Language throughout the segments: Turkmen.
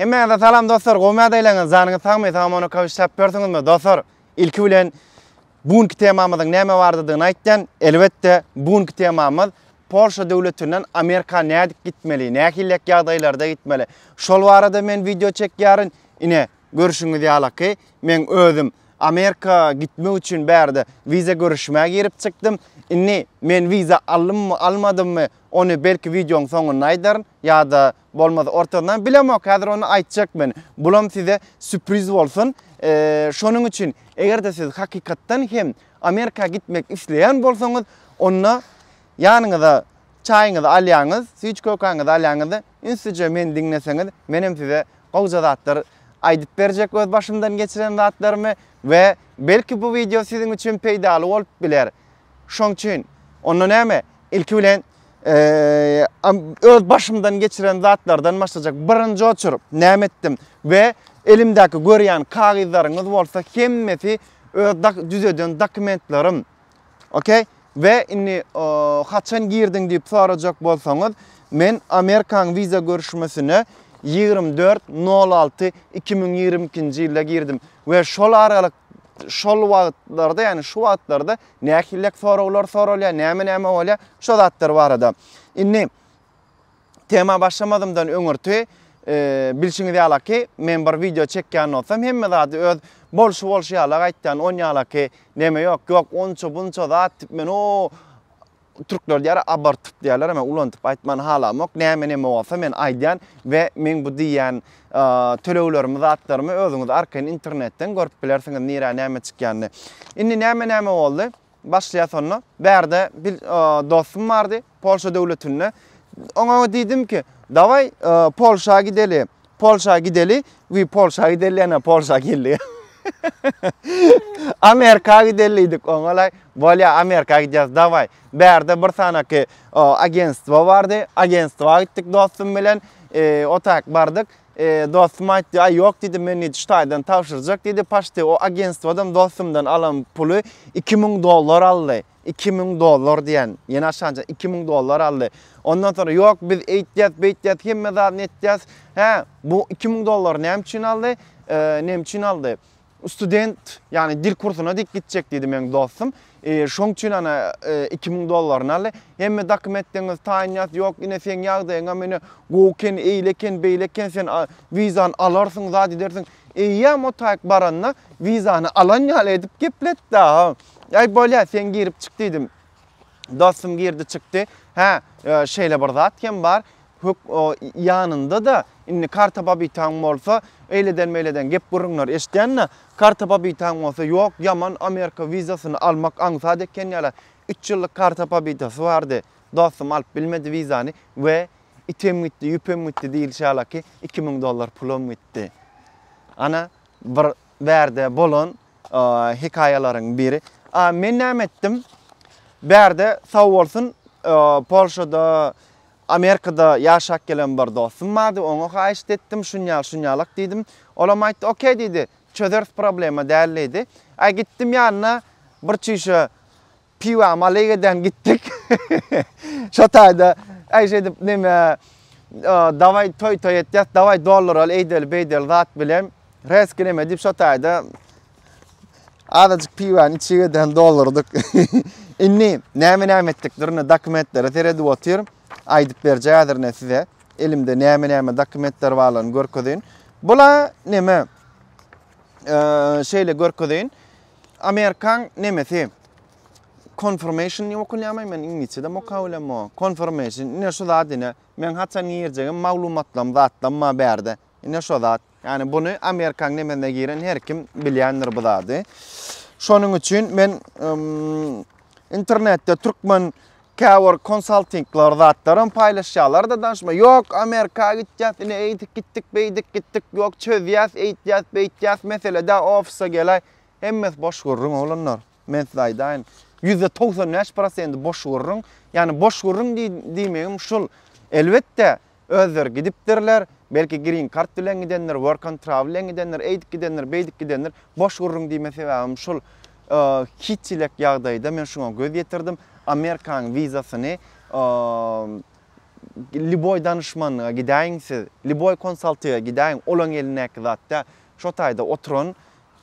Hemmäňize salam dostlar, gowy mädeleňiz, janyňyz sagmy, salam ona kawyş çap görsüňizmi? Dostlar, ilki bilen bu günki temamyzyň näme bardydygyny aýtdan, elbetde bu günki temamyz Polşa döwletinden Amerika nädip gitmeli, nähillek ýagdaýlarda gitmeli. Şol barada men wideo çekýärin. Ine, görüşüňiz ýalaky, men özüm Amerika gitmek üçin bärde wiza görüşmä girip çykdym. Indi men wiza aldymmy, almadymmy, ony belki wideoň soňunda aýdaryn ýa-da Bolmaz ortazyndan bilemok häzir ony aýtjak men. Bulam size süpriz bolsun. Şonuň üçin eger-de siz hakykatdan hem Amerika gitmek isleýän bolsaňyz, onda ýanyňyza çaýyňyzy alýaňyz, süýt-kökäňizi alýaňyz-da, ünslijeje meni diňleseňiz, menem size gowja zatlar aýdyp berjek öz başymdan geçiren zatlarymy we belki bu wideo siziň üçin peýdaly bolup biler. Şoň üçin, onda näme? Ilki bilen öz başymdan geçiren zatlardan başlajak. Birinji oçuryp näme etdim we elimdäki görýän kagyzlaryňyz bolsa hemmesi öz düzeden dokumentlerim. Okey? Ve inni haçan girdin deyip soracak bolsanız men Amerikan viza görüşmesine 24.06.2022 yılda girdim ve şol aralık şol wagtlarda, ýagny şu wagtlarda nähillek soraglar soralýar, näme-näme bolýar, şo zatlar barada. Indi tema başlamazymdan öňürti bilşiňiz ýalaki, men bir wideo çekýän bolsam, hemme zady öz bolşy bolşy ýalak aýtýan, on ýalaki neme ýok, ýok onça-bunça zat, men o Türkler diýýär abartyp diýýärler men ulantyp aýtmany halamok näme neme bolsa men aýdýan we meň bu diýýän töleglerimi zatlarymy özüňiz arkaýyn internetden görüp bilersiňiz nirä näme çykýanyny. Indi näme näme boldy? Başlaýas onda. Bärde bir dostum bardy Polşa döwletinde. Oňa diýdim ki, dawaý Polşa gideli. Polşa gideli we Polşa gideli ýene Polşa geldik. Amerika gideli diýdik oňalaý. Bolýa Amerika gidýäs dawaý. Bärde bir sanaky agentstwo bardy. Agentstwa gitdik dostum bilen. E, o tak bardyk. E, dostum aýtdy, "Aý ýok" diýdi, "Men diýdi Ştaýdan tabşyrjak" diýdi. Paşty o agentstwodan dostumdan alan puly 2000 dollar aldy. iki müň dollar diýen, ýene aşança iki müň dollar aldy. Ondan soňra ýok biz eýtýäs, beýtýäs, hemme zadyny etýäs. Hä, bu iki müň dollary näme üçin aldy? Näme üçin aldy? Student, ýagny dil kursuna dik gitjek diýdi meniň dostum. Şoň üçin ana iki müň dollaryny aldy. Hemme dokumentlerini taýynýas, ýok ine seň ýagdaýyňam ine gowy eken, eýle eken, beýle eken, sen wizany alarsyň, zat edersiň. Eýýäm o taýyk baranda wizany alan ýaly edip gepletdi. Aý, bolýa, sen girip çyk diýdim. Dostum girdi çykdy. Hä, şeýle bir zat hem bar. Hök o ýanynda-da, indi karta babitaň bolsa, eýleden-meýleden gep gürrüňler eşitýän-de, karta babitaň bolsa, ýok, ýaman Amerika wizasyny almak aňsat eken ýala. Üç ýyllyk karta babitasy bardy. Dostum alyp bilmedi wizany we item gitdi, ýüpem gitdi diýilişi ýala ki, iki müň dollar pulum gitdi. Ana, bir. bärde bolan hekaýalaryň biri. A men näme etdim? Bärde sag bolsun Polşada Amerikada ýaşap gelen bir dostum bardy, oňa haýyşt etdim, şunýal şunýalak diýdim. Olam aýtdy, okey diýdi, çözeris problema däl diýdi. Aý gitdim ýanyna bir çişe Piwa malyk eden gitdik. Şo taýda äýş edip neme daway toy toy etýäs, daway dolduraly eýdeli beýdeli zat bilen. Reski neme diýip şo taýda azajyk piwany içip eden doldurdyk. Indi näme näme etdik durna dokumentlere seredip otyrym. Aýdyp berje häzir ne size. Elimde näme näme dokumentler barlaryny görkezeýin. Bula neme şeýle görkezeýin. Amerikan nemesi. Confirmation diýip okunýarmy? Men iňlisçe-de moka bilem o. Confirmation. Ine şu zat ine. Men haçan girjegim maglumatlam zatlam ma bärde. Ine şu zat. Yani bunu Amerikan nemesine giren her kim bilýändir bu zady. Şonuň üçin men internetde türkmen Käbir konsaltingler zatlaram paýlaşýarlarda danşma ýok amerika gitýäs ine eýdik gitdik beýdik gitdik ýok çözýäs eýtýäs beýtýäs meselede ofisa gelaý hemmesi boş gürrüň oglanlar men size aýdaýyn ýüzde togsan bäş prosenti boş gürrüň ýagny boş gürrüň diýmegim şul elbetde Özleri gidipdirler, belki green kart bilen gidendir, work and travel bilen gidendir, eýdip gidendir, beýdip gidendir, boş gürrüň diýme sebäbim şul, hiç ilek ýagdaýda men şuňa göz ýetirdim, Amerikanyň wizasyny liboý danyşmanyna gidäýiň siz, liboý konsaltyga gidäýiň, olaň elindäki zat däl, şo taýda oturan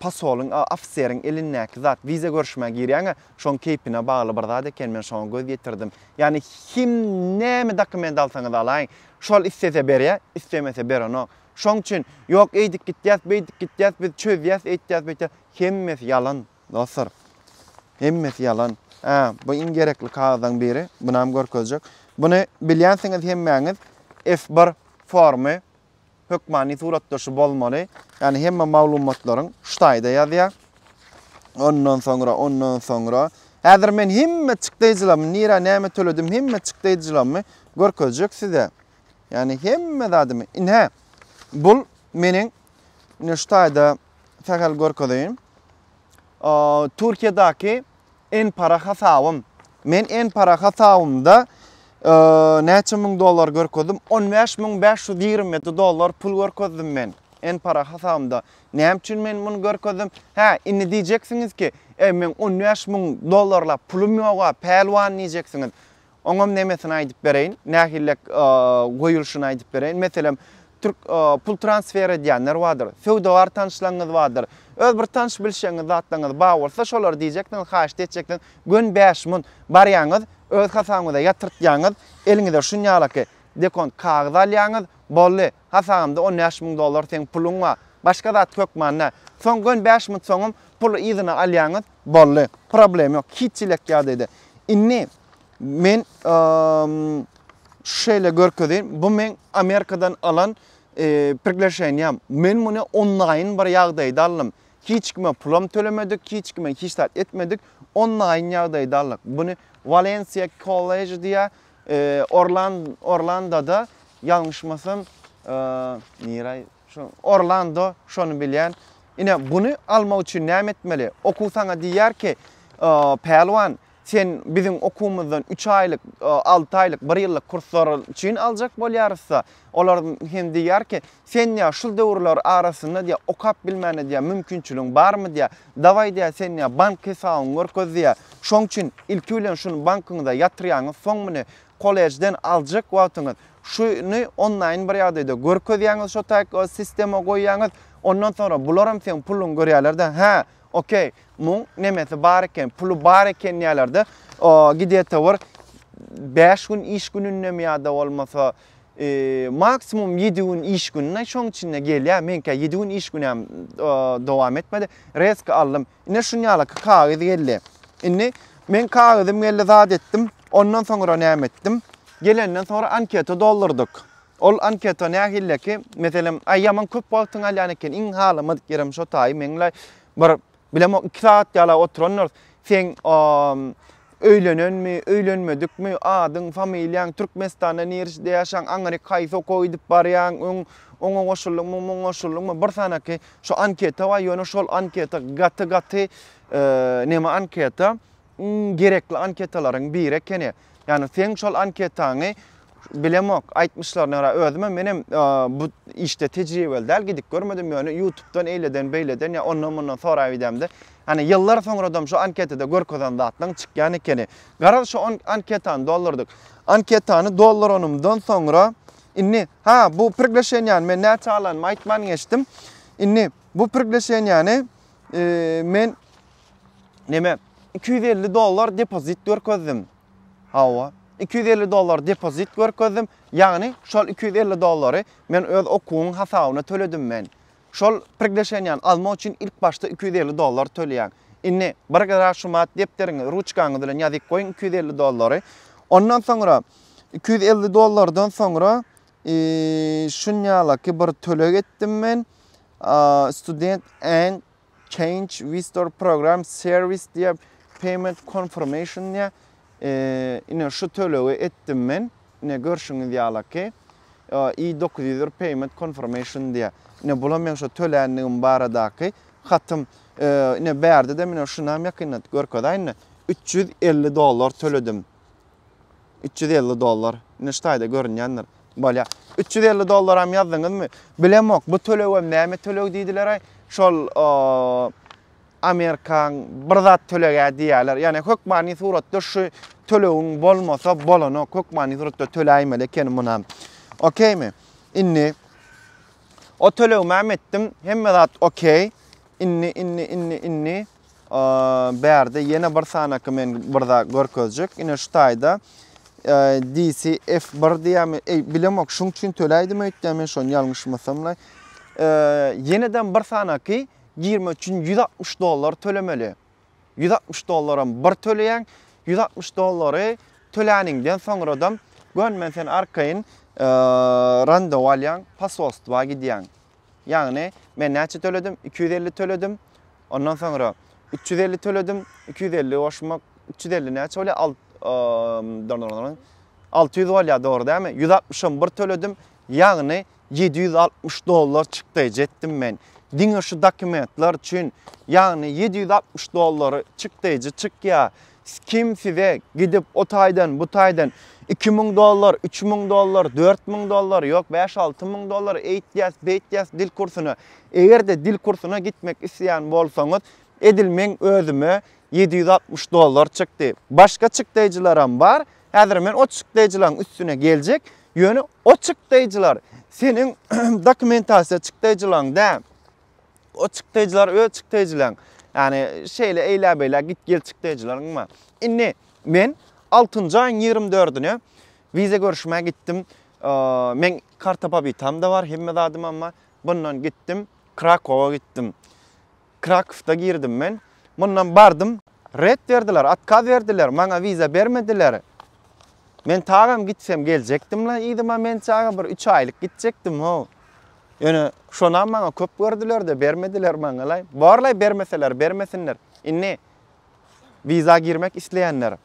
Posolyň, ofiseriň elindäki zat, wiza görüşmä girýäň-ä, şoň keýpine bagly bir zat eken, men şoňa göz ýetirdim. Ýagny kim näme dokument alsaňyz alaýyň, şol islese berýä, islemese berenok. Şoň üçin, ýok eýdip gitýäs, beýdip gitýäs, biz çözýäs, eýtýäs, beýtýäs, hemmesi ýalan, dostlar. Hemmesi ýalan. Hä, bu iň gerekli kagyzaň biri, bunam görkezjek. Buny bilýänsiňiz hemmäňiz, F-bir formy. hökmany suratdaşy bolmaly. Ýani hemme maglumatlaryň şu taýda ýazýar. Ondan soňra, ondan soňra. Häzir men hemme çykdaýjylamy, nirä näme töledim, hemme çykdaýjylamy görkezjek size. Ýani hemme zadymy. Indi hä, bul meniň şu taýda sähel görkezeýin. Türkiýedäki N-para hasabym. Men N-para hasabymda näçe müň dollar görkezdim? On bäş müň bäş ýüz ýigrimi ýedi dollar pul görkezdim men N-para hasabymda. Näme üçin men muny görkezdim? Hä, indi diýjeksiňiz ki, e, meň on bäş müň dollarlap pulum ýog-a, pälwan diýjeksiňiz. Oňam nemesini aýdyp bereýin, nähillek goýulşyny aýdyp bereýin. Meselem, türk pul transfer edýänler bardyr, söwdagär tanyşlaryňyz bardyr. Öz bir tanyş-bilşiňiz zatlaryňyz bar bolsa, şolara diýjeksiňiz, haýyşt etjeksiňiz, göni bäş mun barýaňyz, öz hasabyňyza ýatyrtýaňyz, eliňize şunýalaky dekont kagyz alýaňyz, boldy, hasabymda on bäş müň dollar seň puluň bar, başga zat hökman däl. Soň göni bäş mut soňam puly yzyna alýaňyz, boldy, problem ýok, hiç-hiç elek ýagdaýda. Indi Men şu şeýle görkezeýin. Bu men Amerikadan alan e, priglaşeniýam. Men muny onlaýyn bir ýagdaýda aldym. Hiç kime pulam tölemedik, hiç kime hiç zat etmedik. Onlaýyn ýagdaýda aldyk. Buny Valencia College diýä e, Orland Orlandoda ýalňyşmasam e, nirä şu Orlando şony bilýän. Ine buny almak üçin näme etmeli? Okuw saňa diýýär ki, e, Pälwan, Sen biziň okuwymyzdan üç aýlyk, alty aýlyk, bir ýyllyk kurslar üçin aljak bolýarys-da. Olar hem diýýär ki, sen diýýär, şul döwürler arasynda diýýär, okap bilmäne diýýär, mümkinçiligiň barmy diýýär. Dawaý diýýär, sen diýýär, bank hesabyňy görkez diýýär. Şoň üçin ilki bilen şuny bankyňyza ýatyrýaňyz, soň muny kollejden aljak wagtyňyz şuny onlaýn bir ýagdaýda görkezýäňiz, şo taýy sistema goýýaňyz. Ondan soňra bularam seň puluňy görýärler-de. Hä, Ok, muň nemesi bar eken, puly bar eken diýerler-de, gidete bir bäş gün iş günündemi ýa-da bolmasa maksimum ýedi gün iş gününe şoň içinde gelýär. Meňkä ýedi gün iş güni hem dowam etmedi. Rezki aldym. Ine şuny ýalaky kagyz geldi. Indi men kagyzym geldi zat etdim. Ondan soňra näme etdim? Gelenden soňra anketa doldurdyk. Ol anketa nähilleki, meselem, aý ýaman köp wagtyňy alýan eken, iň halamadyk ýerem şo taýy meňlaý, bir, bilemok, iki sagat ýala oturandyr, seň öýlenenmi, öýlenmedikmi, adyň, familiýaň, Türkmenistanda nirsde ýaşaň, aňryk haýsy okuwa gidip barýaň, öň oňa goşuldyňmy, muňa goşuldyňmy, bir sanaky şo anketa bar, ýöne şol anketa gaty-gaty neme anketa, iň gerekli anketalaryň biri ekeni. Ýani seň şol anketaňy bilemok, aýtmyşlaryna görä özümem menem bu işde tejribeli däl, gidip görmedim ýöne ýutubdan eýleden beýleden ýa ondan mundan soraýyp idemde Ýani ýyllar soňradam şu anketada görkezen zatlaň çykýan ekeni. Garaz şu anketany doldurdyk. Anketany dolduranymdan soňra indi ha bu prigleşenýany men näçe alanymy aýtman geçdim. Indi bu prigleşenýany men Neme? 250 dollar depozit görkezdim. Hawa. 250 dollar depozit görkezdim. Ýagny şol 250 dollary men öz okuwyň hasabyna töledim men. Şol prigleşenýäni almak üçin ilk başda 250 dollar töleýäň. Indi bir gara şumat depderiňi, ruçkaňyz bilen ýazyp goýuň 250 dollary. Ondan soňra 250 dollardan soňra şunýalaky bir töleg etdim men. Student and Change Visitor Program Service diýip Payment Confirmation diýip ine şu tölegi etdim men. Ine görşüňiz ýaly ki i900 Payment Confirmation diýip. Ine bula men şu töländigim baradaky hatym. Ine bärde de men şunam ýakynda görkezäýin. 350 dollar töledim. Üç ýüz elli dollar. Ine şu taýda görünýändir. Bolýa. Üç ýüz elli dollaram ýazdyňyzmy? Bilemok, bu tölegem näme töleg diýdiler-aý. Şol Amerikaň bir zat tölege diýýärler. Ýagny hökmany suratda şu tölegiň bolmasa bolanok. Hökmany suratda töläýmeli ekeni munam. Okeými? Indi o tölegimem etdim. Hemme zat okey. Indi, indi, indi, indi. Bärde ýene bir sanaky men bir zat görkezjek. Ine şu taýda DCF1 diýämi, eý bilemok, şuň üçin töläýdim öýtdä men şony ýalňyşmasamla. Ýeneden bir sanaky girmek üçin 160 dollar tölemeli. 160 dollaram bir töleýäň. 160 dollary töläniňden soňradam gön men seni arkaýyn randewu alýan, posolstwa gidýäň. Ýagny, men näçe töledim? Iki ýüz elli töledim. Ondan soňra üç ýüz elli töledim. Iki ýüz elli goşmak, üç ýüz elli näçe bolýar? Alt, eee, alty ýüz bolýar, dogry dälmi? Ýüz altmyşam bir töledim. Ýagny, ýedi ýüz altmyş dollar çykdy ejetdim men. Diňe şu dokumentler üçin, ýagny ýedi ýüz altmyş dollary çykdyjy çykýar. Kim size gidip o taýdan, bu taýdan iki müň dollar, üç müň dollar, dört müň dollar, ýok bäş-alty müň dollar eýtýäs, beýtýäs dil kursuna. Eger-de dil kursuna gitmek isleýän bolsaňyz, edil meň özüme ýedi ýüz altmyş dollar çykdy. Başga çykdaýjylaram bar. Häzir men o çykdaýjylaryň üstüne geljek. Ýöne o çykdaýjylar seniň dokumentasiýa çykdaýjylaryň däl. O çykdaýjylar öz çykdaýjylaň. Ýani şeýle eýlä beýlä git gel çykdaýjylaň bar. Indi men 6-njy aýyň 24-üne wiza görüşmä gitdim. Men karta pobitam da bar, hemme zadym amma bundan gitdim, Krakowa gitdim. Krakowda girdim men. Mundan bardym, ret berdiler, otkaz berdiler, maňa wiza bermediler. Men tagam gitsem geljekdim-la yzyma mençaga bir üç aýlyk gitjekdim-how. Ýöne şonam maňa köp gördüler-de, bermediler maňa-laý. Bor-laý bermeseler, bermesinler. Indi wiza girmek isleýänler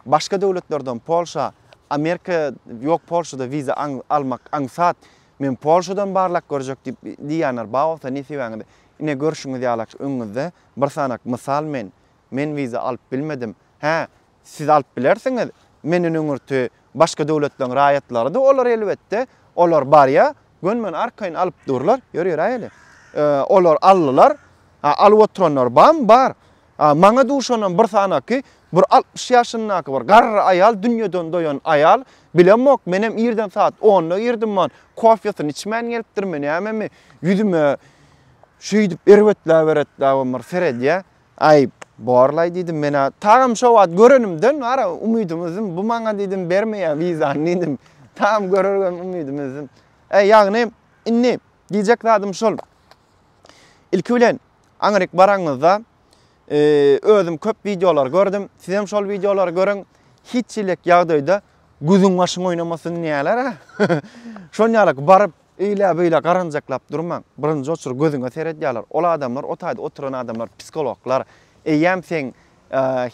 başga döwletlerden Polşa, Amerika ýok Polşada wiza almak aňsat. Men Polşadan barlap görjek diýip diýýänler bar bolsa nesibäňiz. Ine görşüňiz ýalak öňüňizde bir sanak mysal men. Men wiza alyp bilmedim. Hä, Siz alyp bilersiňiz, menden öňürti başga döwletleriň raýatlary-da olar elbetde, olar barýa, gönümen arkaýyn alyp durlar, ýör ýöräýeli. Olar aldylar, a alyp oturanlar barmy, bar. A maňa duşanam bir sanaky, bir altmyş ýaşyndaky bir garry aýal, dünýeden doýan aýal, bilemok, menem irden sagat onda girdim, man, kofýasyny içmän gelipdirmi, nämemi, ýüzüme şeýdip erbetläp-eretläbem bir seredýä, Aý, borlaý, diýdim men-ä. Tagam şo wagt görenimden wara umydym üzdim. Bu maňa, diýdim, bermeýär wizany, diýdim. Tagam görergem umydym üzdim. E, ýagny, indi diýjek zadym şol. Ilki bilen, aňryk baraňyzda, özüm köp wideolar gördüm. Sizem şol wideolary görüň. Hiç hili ýagdaýda gözüň-başyň oýnamasyn diýýärler-ä. Şonýaly baryp, Eýle-beýle garanjaklap durmaň. Birinji oçur gözüňe seredýärler. Ol adamlar, o taýda oturan adamlar psihologlar. Eýýäm seň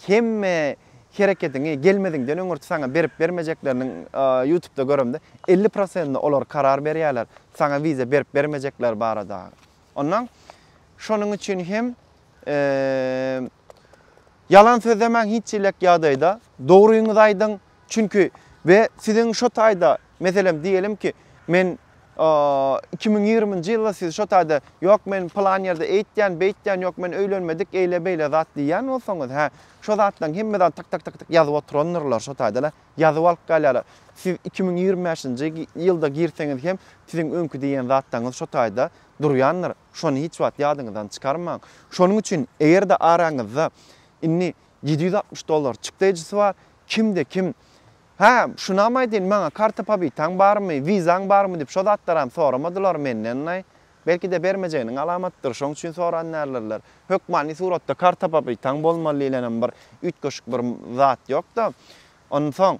hemme hereketiňi gelmeziňden öňürti saňa berip-bermejekleriniň ýutubda göremde elli prosentine olar karar berýärler, saňa wiza berip-bermejekleri barada. Onnoň şonuň üçin hem Ýalan sözlemäň hiç çilek ýagdaýda. Dogryňyzy aýdyň. Çünki we siziň şo taýda meselem diýelim ki men iki müň ýigriminji ýylda siz şo taýda ýok men plan ýerde eýtýän beýtýän ýok men öýlenmedik eýle beýle zat diýýän bolsaňyz hä şo zatlaň hemmeden tyk tyk tyk ýazyp oturandyrlar şo taýda ýazyp alyp galýarlar siz iki müň ýigrimi bäşinji ýylda girseňiz hem siziň öňki diýen zatlaňyz şo taýda durýandyr. Şony hiç wagt ýadyňyzdan çykarmaň. Şonuň üçin eger-de araňyzda indi ýedi ýüz altmyş dollar çykdaýjysy bar, kimde kim Hä, şunam aýdaýyn, maňa karta pobitaň barmy, wizaň barmy diýip şo zatlaram soramadylar menden-laý. Belki-de bermejeginiň alamatydyr, şoň üçin soran däldirler. Hökmany suratda karta pobitaň bolmaly diýlenem bir üýtgeşik bir zat ýok-da. Onsoň,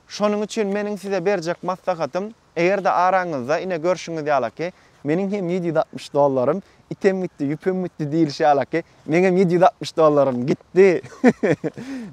şonuň üçin meniň size berjek maslahatym, Eger-de araňyzda ine görşüňiz ýalaky, Meniň hem ýedi ýüz altmyş dollarym item gitdi, ýüpem gitdi diýlişi ýalaky, Meňem ýedi ýüz altmyş dollarym gitdi.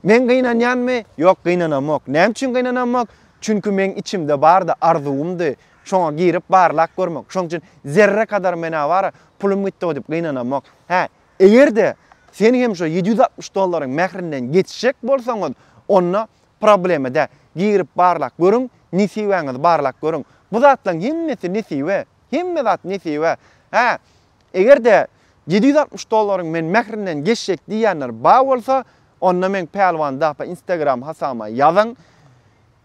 Men gynanýanmy? Ýok, gynanamok. Näme üçin gynanamok? Çünki meň içimde bardy, arzuwymdy. Şoňa girip barlap görmek. Şonuň üçin zerre kadar menä bara pulum gitdi-ow diýip gynanamok. Hä, eger-de sen hem şo ýedi ýüz altmyş dollaryň mährinden geçjek bolsaňyz, onda Problema dä. Girip barlap görüň, nesibäňizi barlap görüň. Bu zatlaryň hemmesi nesibe. Hemme zat nesibe. Hä, eger-de ýedi ýüz altmyş dollaryň men mährinden geçjek diýýänler bar bolsa, onda meň Pälwan Dapa Instagram hasabyma ýazyň.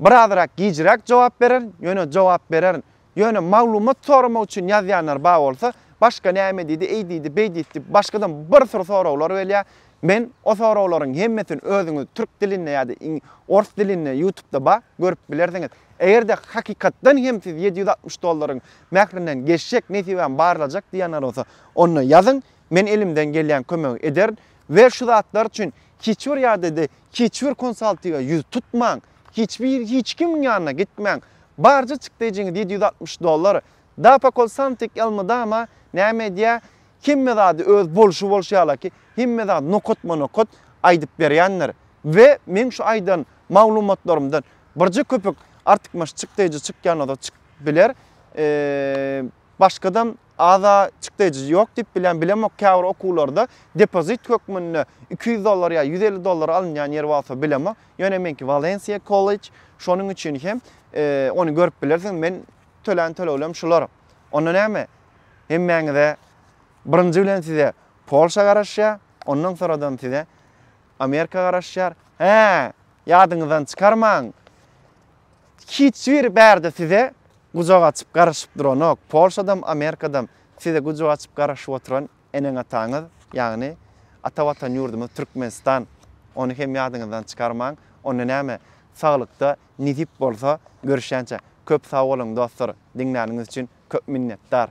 Biraz rak gijräk jogap bererin, ýöne jogap bererin. Ýöne maglumat soramak üçin ýazýanlar bar bolsa, başga näme diýdi, eý diýdi, beý diýdi diýip başgadan bir sürü soraglar gelýär. Men o soraglaryň hemmesini özüňiz türk dilinde ýa-da ors dilinde ýutubda bar, görüp bilersiňiz. Eger-de hakykatdan hem siz ýedi ýüz altmyş dollaryň mährinden geçjek, nesibäm barlajak diýýänler bolsa, onda ýazyň, men elimden gelýän kömegi ederin we şu zatlar üçin hiç bir ýa-da hiç bir konsaltiga ýüz tutmaň. Hiç bir hiç kimiň ýanyna gitmäň. Barja çykdajyňyz ýedi ýüz altmyş dollar. Dapakol Santik elmydama näme edýä, hemme zady öz bolşy bolşy ýalaky, hemme zat nokatma nokat aýdyp berýändir. We meň şu aýdan maglumatlarymdan birje köpük artykmaç çykdajy çykýan bolsa çykyp biler. Eee başgadam Aza çykdajy ýok diýip bilýän, bilemok käbir okuwlarda depozit hökmünde iki ýüz dollar ýa ýüz elli dollara alynýan ýeri bolsa bilemok. Ýöne meňki Walensiýa kollej, şonuň üçin hem ony görüp bilersiň. Men tölän töleglerim şular. Onda näme? Hemmäňize birinji bilen size Polşa garaşýar, ondan soradan size Amerika garaşýar. Hä, ýadyňyzdan çykarmaň. Hiç biri bärde size gujak açyp garaşyp duranok. Polşadam, Amerikadam size gujak açyp garaşyp oturan eneň-ataňyz, ýagny ata watan ýurdumyz Türkmenistan. Ony hem ýadyňyzdan çykarmaň. Onda näme, saglykda nesip bolsa görüşýänçä. Köp sag boluň dostlar, diňläniňiz üçin köp minnetdar.